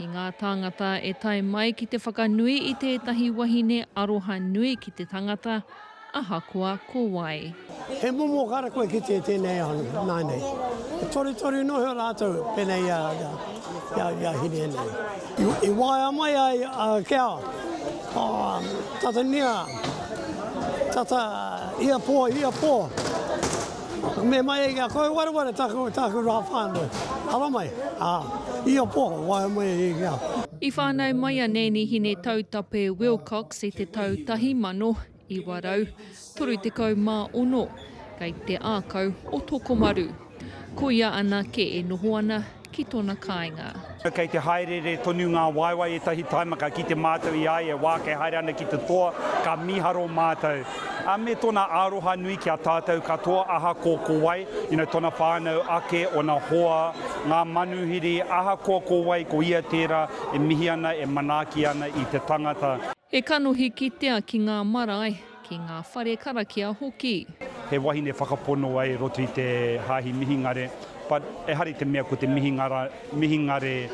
I ngā tāngata e tae mai ki te whakanui i tētahi wahine aroha nui ki te tangata, ahakoa ko wai. He momo kara kua kitea i tēnei ao nei, nāinei. He torutoru noa iho rātou pēnei i a, i a, i a Hiria nei. I, i waea mai ai a Keawa, oh, tata niha, tata ia pō, ia pō. Me mai ai kia koe wareware taku, taku rā whānau. Ara mai, ā, i a poho, wae mai ai kia. I whānau mai a Nēnihine Tautape Wilcox i te tau tahi mano, iwa rau, toru tekau mā ono, kei te ākau o Tokomaru. Ko ia anake e noho ana, ki tona kainga. Kei te haereere tonu ngā waewae ētahi taima ka kite mātou i a ia wā kei haere ana ki te toa ka miharo mātou a me tona aroha nui ki a tātou katoa ahakoa ko wai you know tona whānau ake ona hoa ngā manuhiri ahakoa ko wai ko ia tērā e mihi ana e manaaki ana i te tangata. He kanohi kitea ki ngā marae, ki ngā whare karakia hoki. He wahine whakapono ai roto i te hāhi Mihingare, but ehara i te mea ko te Mihingara, Mihingare,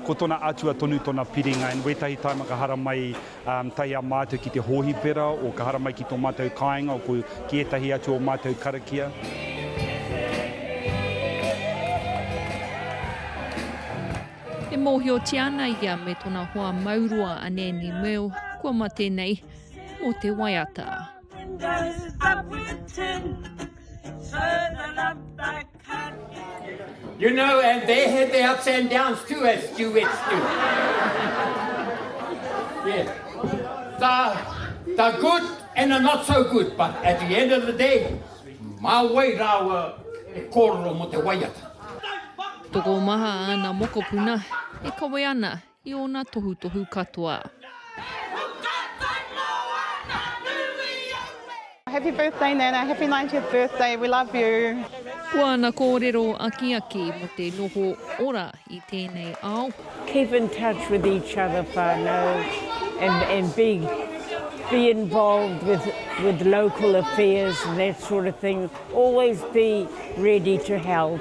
ko tona atua tonu tona piringa and wētahi taima ka haramai tahi a mātou ki te hōhipera or ka haramai ki to mātou kāinga or ki ētahi atu o mātou karakia. E mōhiotia ana ia me tona hoa mauroa a Nanny Merle kua mate nei mō te waiata. You know, and they had their ups and downs too, as duets do. yeah. The, the good and the not so good, but at the end of the day, mā wai rāua e kōrero mō te waiata. Tokomaha āna mokopuna e kawe ana i ōna tohutohu katoa. Happy birthday Nana, happy 90th birthday, we love you. Ko āna kōrero akiaki mō te noho ora i tēnei ao. Keep in touch with each other whānau and, and be, be involved with, with local affairs and that sort of thing. Always be ready to help.